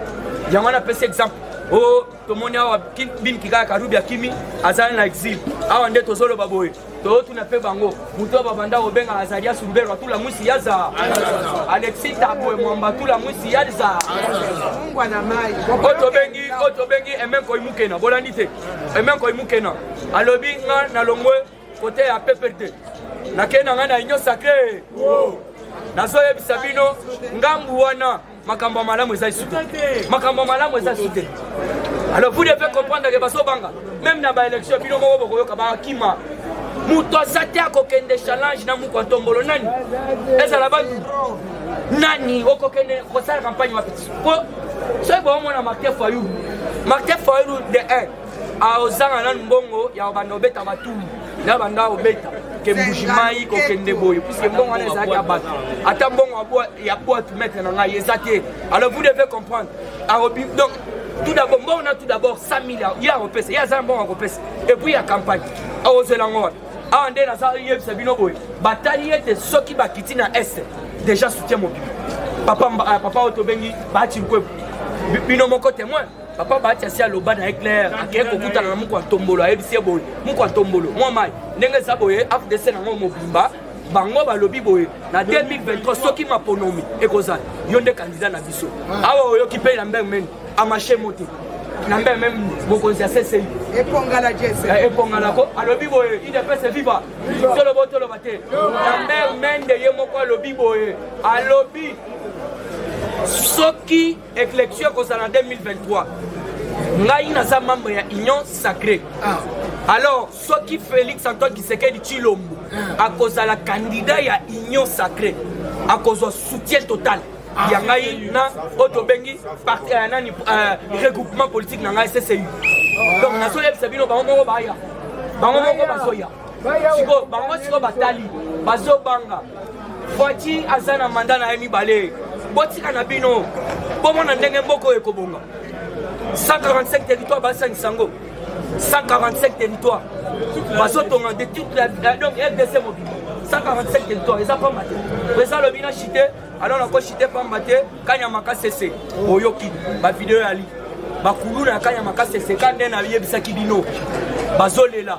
Yango wana pesa exemple o oh, tomoni awa bin kikaya karubi akimi azali na exil awa nde tozoloba boye totuna mpe bango moto babanda kobenga azali asumbelo atula mwisi ya za alexi tabwe mwamba atula mwisi ya za oyo tobengi oyo tobengi emenkoi mukena bolandi te emenkoi mukena alobi nga na longwe kote ya peperde nakei na ngai na union sacre nazoyebisa bino ngambu wana makambo ya malamu eza lisusu te makambo ya malamu eza lisusu te alors vous devez comprendre ke bazobanga meme na baélection bino moko bokoyoka bakima moto aza te akokende challenge na moko atombolo nani ezala ba nani okokende kosala campagne wapi po soki bomona martin fayulu martin fayulu de 1 Ah, ozanga nanu mbongo ya obanda obeta batumu na banda obeta ke mbuji mai kokende boye puiske mbongo wana ezalaki ya bato ata mbongo ya bwatu maître na ngai eza te alors vous devez comprendre arobi ah, donc tout d'abord mbongo na tout d'abord 100 milliard ye akopesa ye aza na mbongo akopesa epuis ya campagne akozela ah, ngo wana awa nde naza yebisa bino boye batali ete soki bakiti na este déjà soutien mobili papa, papa oyo tobengi baati nkwebu bino moko témoin papa bahati asi aloba na ye claire akei kokutana na moko ya tombolo ayebisi ye boye moko ya tombolo mwa mai ndenge eza boye afdc nango mobimba bango balobi boye na 2023 soki maponomi ekozala yo nde kandida na biso awa oyoki mpe na mbeng meni amashe mote na mbeng meme mokonzi ya sesei epongala jese eh, epongala ko alobi boye idps viva tolobo toloba te na mbeng mende ye moko alobi boye alobi soki Election ekozala 2023. Ngai naza membre ya Union Sacrée. Ah. Alors soki Felix Antoine Kisekedi Chilombo ah. akozala candidat ya Union Sacrée akozwa soutien total. Ah. ya ngai na oyo tobengi euh, nani euh, regroupement politique na ngai ccu donc nazoyebisa bino bango moko baya bango moko bazoya sikoyo bango sikoyo batali bazobanga fati aza na manda na ye mibale botika na bino bomona ndenge mboka oyo ekobonga 145 territoire basangisa yango 145 territoire bazotonga de toute la donc rdc mobile 145 territoire eza pamba te président alobi na chite alors nakochite pamba te kanyama kasese oyoki bavideo yali bakuluna ya kanyama kasese ka nde nayebisaki bino bazolela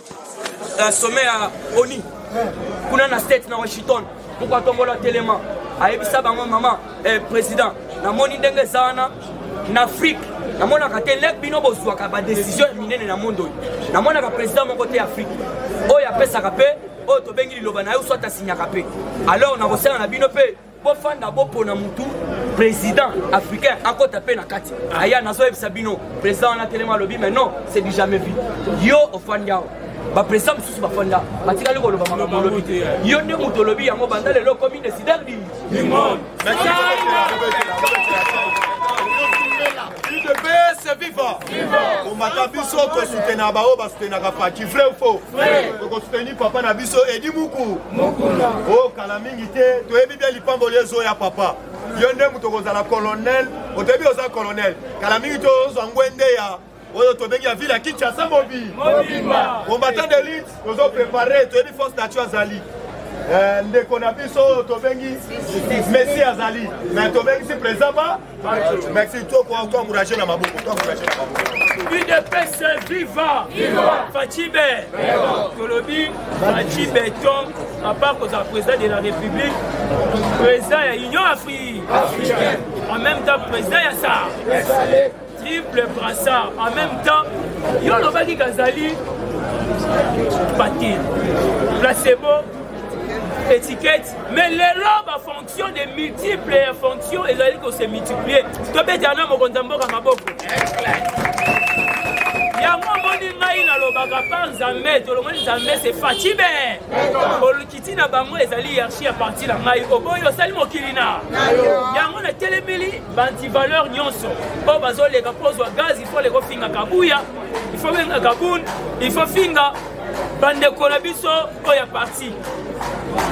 sommet ya oni kuna na state na washington moko atombola telema ayebisa bango mama eh, président namoni ndenge eza wana na afrike namonaka te lek bino bozwaka badesizio ya minene na mondo oyo namonaka président moko te ya afrike oyo apesaka mpe oyo tobengi liloba na ye oswata asinyaka mpe alors nakosenga na bino mpe bofanda bopona mutu président africain akota mpe na kati aya nazoyebisa bino président wana telema alobi mais non c'est du jamais vu yo ofandi awa baprésident mosusu bafanda batikali koloba makambo olobi te yo nde moto olobi yango banda lelo okomi décideur du monde udps viva kombata biso tosutenaka baoyo basutenaka paki vrai fo tokosuteni papa na biso edi muku o oh, kala mingi te toyebi bia lipamboli ezoya papa yo nde moto okozala colonel otoyebi oza colonel kala mingi te ozwa ngwende ya oyo tobengi ya ville ya kinshasa mobi combattant de lite tozo prépare toyebi force nature azali eh, ndeko na biso oyo tobengi messi azali me tobengisi président ba Merci toi quoi toi encourager na maboko toi encourager na maboko UDPS viva viva Fachibe tolobi Fachibe ton à part que le président de la République président ya Union Afrique en même temps président ya ça triple brassard en même temps yo olobaki kazali patin placebo étiquette mais lelo bafonte fonction de multiple fonction ezali ko se multiplier tobetela na mokonzi ya mboka maboko yango omoni ngai nalobaka pa nzambe tolongoli nzambe se facibe olukiti na bango ezali hiérarchie ya parti na ngai oboyi osali mokili na yango natelemeli bantivaleur nyonso oyo bazoleka mpo ozwa gaz ifo leka ofinga kabuya ifo benga kabun ifo finga bandeko na biso oyo ya parti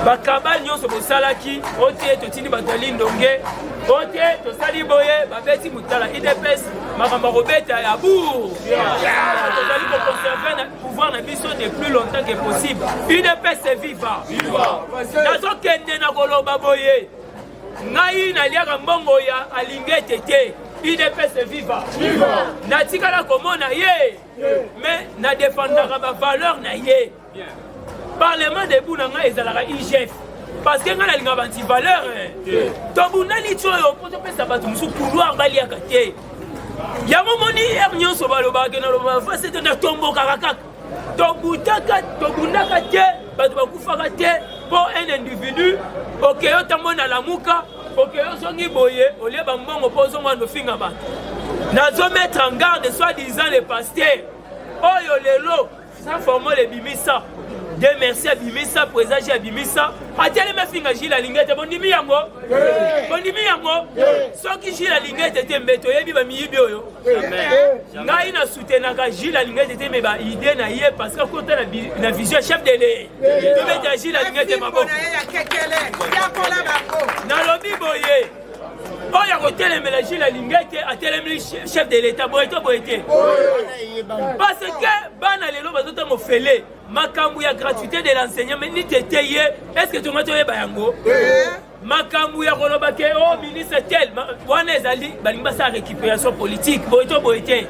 bakabale nyonso bosalaki o te totindi bato ya lindonge o te tosali boye babeti motala idps makambo ya kobeta ya bour tozali koconserve na pouvoir na biso de plus longtemps que possible idps viva nazokende na koloba boye ngai naliaka mbongo ya alingete te idps viva natikala komona ye mais na defendaka ba valeur na ye parlement debout na ngai ezalaka igf parce que ngai nalingaka banti valeur tobundani ti oyo mpo topesa bato mosusu couloir baliaka te yango omoni heure nyonso balobaka ke nalobaka fasi te natombokaka kaka tobutaka tobundaka te bato bakufaka te mpo un individu okeyi otamboli na lamuka okeyi ozongi boye olie bambongo mpo ozonga nofinga bato nazo mettre en garde soit disant le pasteur oyo lelo sa formole ebimisa de merci abimisa président ji abimisa atelemi afinga jile alingi ete bondimi yango bondimi yango soki jile alingi ete te mbe toyebi bamiyibi oyo ngai na soutenaka gile alingete te me ba idée na ye parce que akota na vision chef de le tobeta gile alingete maboko nalobi boye oyo ya kotelemela gile alingete atelemeli chef de l'état boye to boye te parce que bana lelo bazotanga ofele makambo ya gratuité de l'enseignement nitete ye est ce que tonga toyeba yango makambo ya koloba ke o oh, ministre tel wana ezali balingi basala récupération politique boye to boye te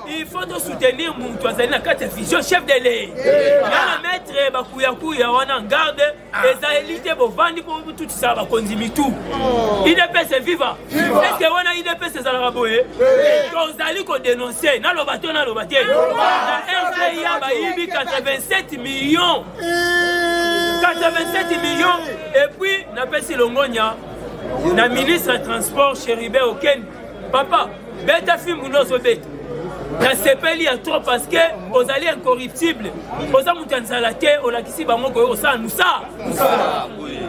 il faut tosoutenir moto azali na kati ya vision chef de ley yana maître bakuyakuya wana garde ah. ezali te bovandi mpo botutisaka bakonzi mitu oh. idps eviva eske wana idps ezalaka boye tozali kodenonse naloba to naloba te na rpa bayibi 87 millions 87 millions et puis napesi longonya na ministre ya transport chéribin oken papa beta fimbu nde ozobeta nasepeli ya trop parce que ozali incorruptible oza moto ya nzala te olakisi bango koye kosala mosala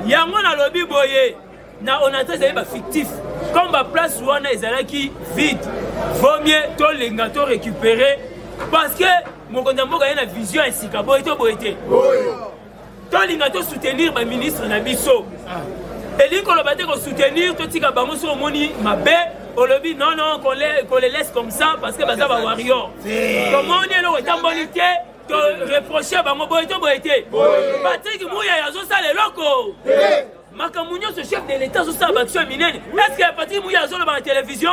yango nalobi boye na onatra ezali bafictif comme baplace wana ezalaki vide vaut mieux tolinga to récupérer parce que mokonzi ya mboka ye na vision ya sika boye to boye te tolinga tosoutenir baministre na biso ah. elingi koloba te kosoutenir totika bango soki omoni mabe olobi non non qu'on les, qu les laisse comme ça parce que baza ba warrior tomoni eloko etamboli te toreproche bango boye to boye te patrik muyaya azosala eloko makambo nyonso chef de l'etat azosala baaction ya minene est-ce que patrik muya azoloba na télévision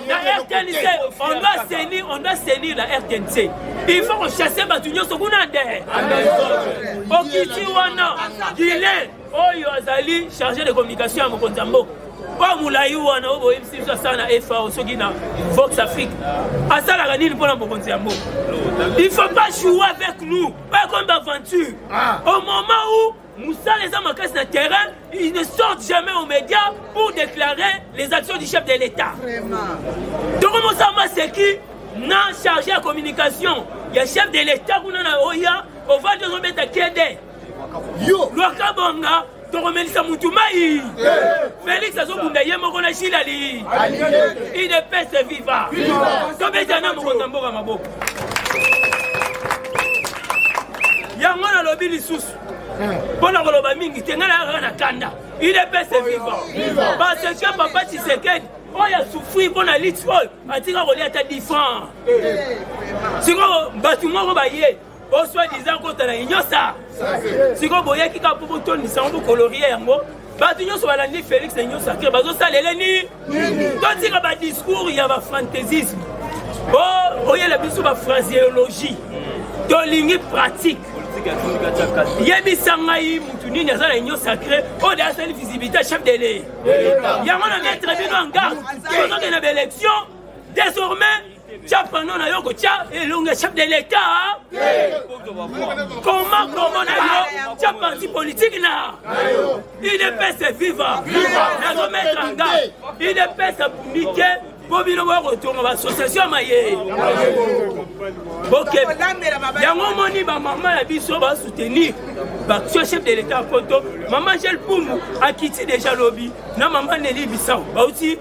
na rtnc on doit senir on doit senir la rtnc il faut kochasse bato nyonso kuna nde okiti wana gilen oyo azali chargé de communication ya mokonzi ya mboka oyo molai wana oyo boyebisi biso asala na fao soki na vox afrique asalaka nini mpo na mokonzi ya mboka il faut pas jouer avec nous oyo ekomi baventure au moment où Moussala eza makasi na terrain, ils ne sortent jamais aux médias pour déclarer les actions du chef de l'État. Toko Moussama c'est qui na chargé ya communication ya chef de l'État kuna na oya ovandi ozobeta kede yo lwaka bonga tokomelisa mutu mai félix azobunda ye moko na shilali idepese viva tobeta na mokonzi ya mboka maboko yango nalobi lisusu mpo na koloba mingi te ngai nayaka na kanda il est pese vivant parce que papa tshisekedi oyo asufri mpo na liti oyo atika kolia ata difran sikoyo bato moko baye osoi disant kota na inyosa sikoyo boyaki kaka mpo botondisa yango bokolorie yango bato nyonso balandi félix na nyonso akre bazosalele nini totika badiscours ya bafantaisisme o oh, oyela biso bafraseologie tolingi pratique yebisa ngai motu nini aza na union sacré oyo de asali visibilité ya chef de leye yango na maître bino en garde tozokende na baélection désormais tya pano na yo kotya elongi ya chef de l'etat koma kongo na yo tya parti politike na idps viva nazometra nga idps abundi te mpo bino boya kotonga baassociatio ya maye boke yango omoni bamama ya biso basoutenir baction chef de l'état ya poto mama gel pumu akiti deja lobi na mama neli bisau bauti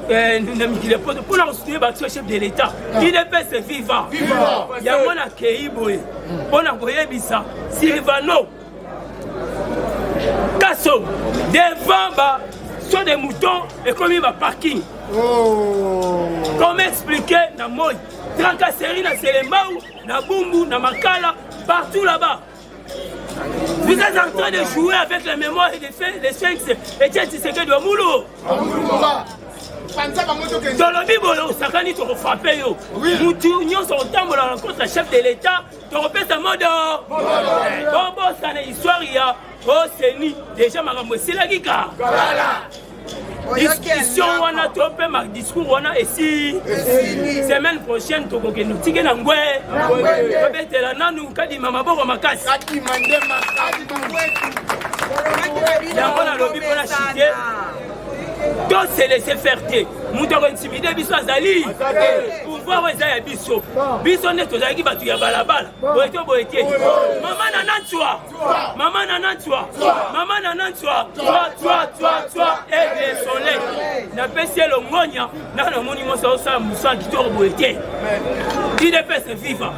Eh, na mikili ya poto mpo na kosutenir bato ya chef de l'état idps ah. viva yango nakei boye mpo na koyebisa silvano kaso devant ba so de mouton ekomi baparking oh. comme explike na moi tracasserie na selembau na bumbu na makala partout là-bas Vous êtes en train de jouer avec la mémoire des, des sphinx et Tchèque Tshisekedi wa Moulou. tolobi boye osakani tokofrape yo mutu nyonso otambola na nkosa chef de l'état tokopesa modo bobosana histoire ya oseni deja makambo esilaki ka discussion wana to mpe ma discours wana esi semaine prochaine tokokende tike na ngwe tobetela nanu kadima maboko makasi yango nalobi mpo na shite to se laisser faire te moto akointimide biso azali pouvoir eza ya biso biso nde tozalaki bato ya balabala boye to boye te mama na nanswa Maman Nana Tsua, Maman Nana Tsua, Tsua, Tsua, Tsua, Tsua, Aigle Soleil. Napesi ye longonya, naka namoni mwasi aosala mosala kitoko boye te. Udps viva.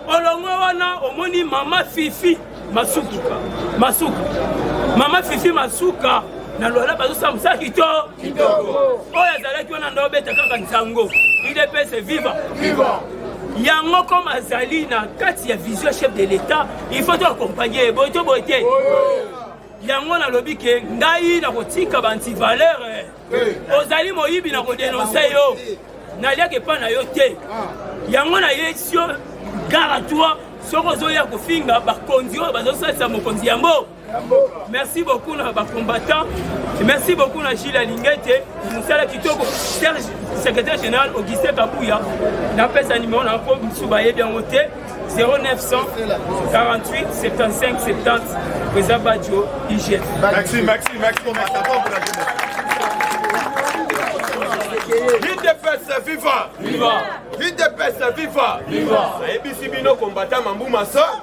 Olongwe wana omoni mama Fifi masuka, masuka. Mama Fifi masuka na lwala bazosala mosala kitoko oyo azalaki wana nde obeta kaka nsango udps viva yango koma azali na kati ya vision chef de l'etat il faut to accompagne ye boye to boye te yango nalobi ke ngai nakotika bantivaleur eh. eh. ozali moyibi na kodenonse yo naliaka epai na yo te ah. yango nayesi yo gara toi soki ozoya kofinga bakonzi oyo bazosalisa mokonzi yango Merci beaucoup na ba combattants. Merci beaucoup na Gilles Alingete, mosala kitoko. Serge, secrétaire général Augustin Kabuya, napesa numéro na po misu bayebi yango te. 0900 48 75 70 Président Badjo, IGF. Merci, merci, merci. L'IDPS, viva! Viva! L'IDPS, viva! Viva! Ayebisi bino combattant Mambu Massa.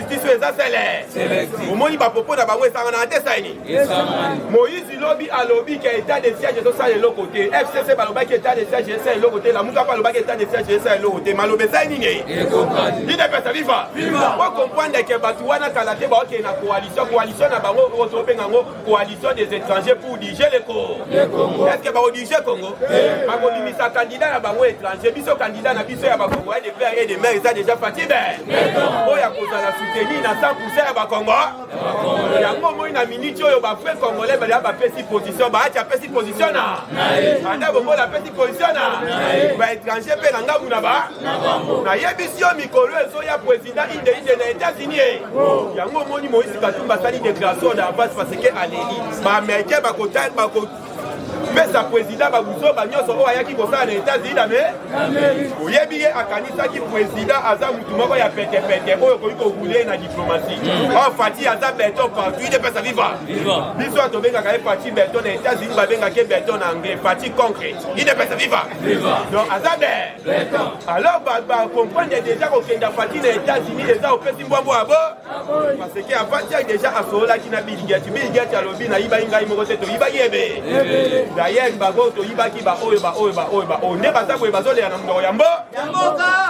constitution eza sele omoni bapopo na bango esanganaka te saini moïse lobi alobi ke état de siège ezosala eloko te fcc balobaki état de siège esala eloko te lamuka mpe alobaki état de siège esala eloko te maloba esai nini idepesa viva okomprendre ke bato wana kala te baokende na coalition coalition na bango okobenga yango coalition des étrangers pour diriger le Congo. Est-ce que va diriger Congo Bakobimisa candidat ya bango étranger, biso candidat na biso ya bakongo ya de père et de mère eza déjà fatigué. Oyo akozala soutenir na 100% ya bakongo. Yango moi na minute oyo ba frères congolais bali ba pesi position, ba acha pesi position na. Anda bongo la pesi position na. Ba étranger pe na ngabu na ba. Na yebisi yo mikolo ezo ya president eza inde inde na etats-unis eh. yango omoni moïse katumba asali déclaration na avance parce que aleli baaméricain bakopesa président babuzoba nyonso oyo ayaki kosala na etats-unis na me oyebi ye akanisaki président aza motu moko ya petepete oyo okoki kokule na diplomatie mm. or fati aza beton partout ide mpesa viva biso oyo tobengaka ye fati beton na etats-unis babengaka ye beton na anglais fati concrete ide mpesa viva donc aza bee alors bacomprendre deja kokenda fati na états-unis eza opesi mbwambo ya bo parce que avatiak deja asololaki na biligiati biligiati alobi nayibaki ngai moko te toyibaki ebe dayek bango toyibaki baoyo baoyo baoyo baoyo nde baza boye bazolela na monoko ya mbo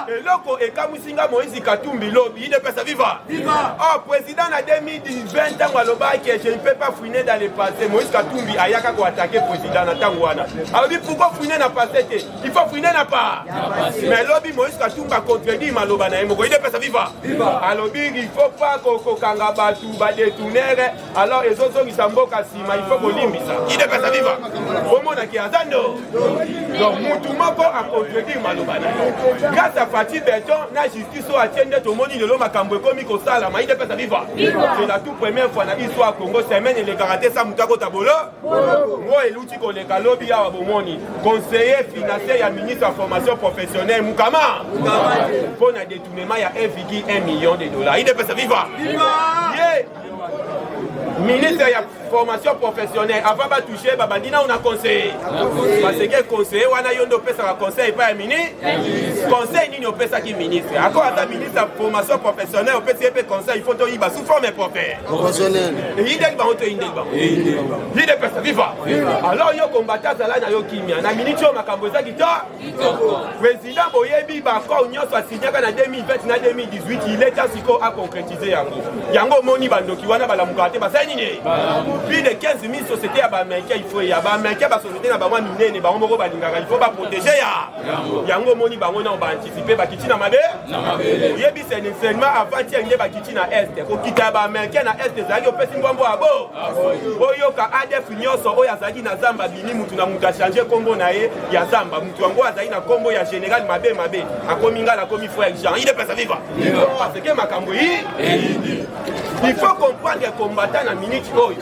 eloko ekamwisi nga moïse katumbi lobi idepesa viva oh président na 2020 ntango alobaki je ne peux pas fouiner dans le passé moïse katumbi ayaka koatake président na ntango wana alobi pourquoi fouiner na passé te il faut fouiner na part mais lobi moïse katumba contredit maloba na ye moko ide pesa viva alobi il faut pas kokanga bato badetournere alors ezozongisa mboka nsima il faut kolimbisa ide pesa viva omonaki aza ndo donc mutu moko acontredire maloba na ye grâce à fati beton na justice oyo atie nde tomoni lelo makambo ekomi kosalama ide pesa viva c'est la tout première fois na histoire congo semaine elekaka te sa moto akota bolo oyo eluti koleka lobi awa bomoni conseiller financier ya ministre ya formation professionnelle mukama mpo na détournement ya 1,1 million de dollars idepesa viva ye ministre ya formation professionnelle avant batouche babandi nao na conseiller baseke conseiller wana yo nde opesaka conseil epai ya mini conseil nini opesaki ministre ako ata ministre ya formation professionnelle opesi ye mpe conseil il faut toyiba sous forme propre Professionnel. Eyindeli bango to eyindeli bango. Eyindeli bango. Vide pesa viva. Alors yo combattant zala na yo kimia. Na minute oyo makambo eza kitoko. Kitoko. Président boyebi ba corps nyonso asignaka na 2020 na 2018 il est temps siko a concrétiser yango. Yango omoni bandoki wana balamuka te basala nini? Plus de 15 000 sociétés ya ba Américains il faut ya ba Américains ba sociétés na bango minene bango moko balingaka il faut ba protéger ya yango omoni bango nao baanticipe bakiti na mabe oyebi senseinement avant tieng nde bakiti na este kokita ya baamericain na este ezalaki opesi mbwambwa ya bo oyoka adf nyonso oyo azalaki na zamba bini motu na motu achange nkombo na ye ya zamba motu yango azali na nkombo ya général mabe mabe akomi ngai nakomi frère jean ide pesa viva parce que makambo yi il faut comprendre combattant na minute oyo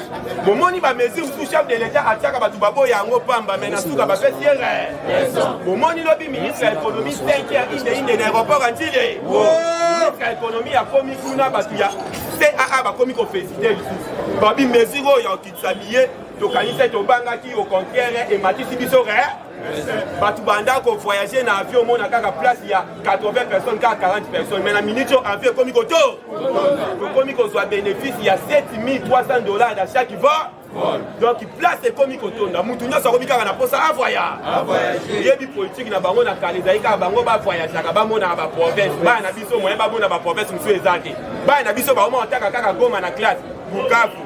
bomoni bamesure mosusu chef de l'etat atiaka bato baboya yango pamba mai na suka bapesi ye bomoni lobi ministre ya ekonomi 5 heure inde inde na aéroport ya ntile ministre ya ekonomi akomi kuna bato ya caa bakomi kofesite lisusu babi mesure oyo ya okitisa biye tokanisaki tobangaki au contraire ematisi biso bato banda ko voyager na avion omona kaka place ya 80 personnes kaka 40 personnes mais na minute oyo avion ekomi koto tokomi kozwa bénéfice ya 7300 dollars na chaque va donc place ekomi kotonda motu nyonso akomi kaka na mposa avoyage yebi politike na bango na kala ezali kaka bango bavoyageaka bamonaka baprovince bana na biso moyen bamona baprovince mosusu eza te bana na biso baoma otaka kaka goma na classe bukavu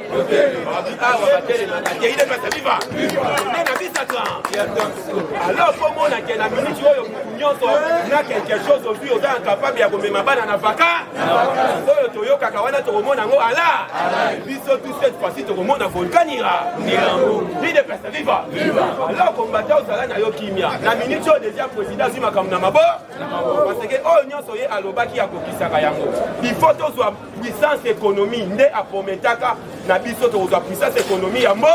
alors mpo omona ke na miniti oyo motu nyonso na quelque chose ozwi oza incapable ya komema bana na vaka oyo toyokaka wana tokomona yango ala biso tu cette fois-ci tokomona volkanira ide pesa viva alors kombata ozala na yo kimia na miniti oyo deja président azwi makambo na mabo parce que oyo nyonso ye alobaki akokisaka yango il faut tozwa puissance économie nde aprometaka na biso tokozwa puissance économie ya mbo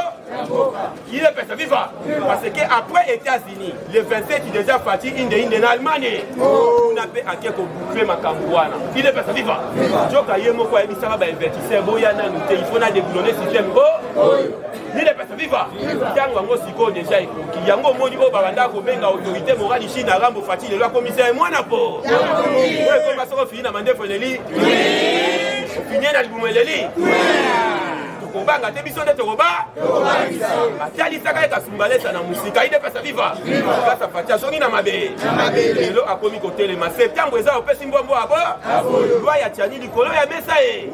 il est pesa viva parce que après états-unis le 27 déjà fati inde inde na allemagne kuna mpe ake koboucle makambo wana il est pesa viva joka ye moko ayebisaka bainvestisseur boya nanu te il faut na déglone système o Nidepesa viva ntango yango sikoyo deja ekoki yango omoni oyo babanda kobenga autorité morali chine arambo fati lelo akomisa ye mwana po oyo ekoma soko ofini na mandefu eleli ofinie na libumu eleli kobanga te biso nde tokoba atalisaka ye kasumbalesa na mosika ye nde pesa viva kasa fati azongi na mabe lelo akomi kotelema septembre eza opesi mbwambwa abo lwa ya tiani likolo ya mesa ye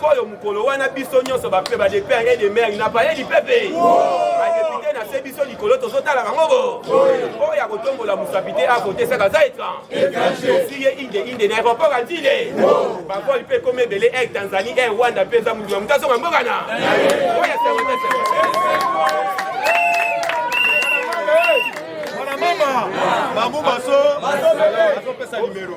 Koyo mukolo wana biso nyonso ba pe ba de père et de mère il n'a pas eu du pepe. Ba député na se biso likolo tozo tala bango bo. Oyo ya kotombola musapi te a voter saka za etra. Siye inde inde na aéroport à Ndile. Ba vol pe comme belé Air Tanzanie Air Rwanda pe za mutu mutazo mboka na. Oyo ya sawete sawete. Mama, mamu maso, maso pesa numero.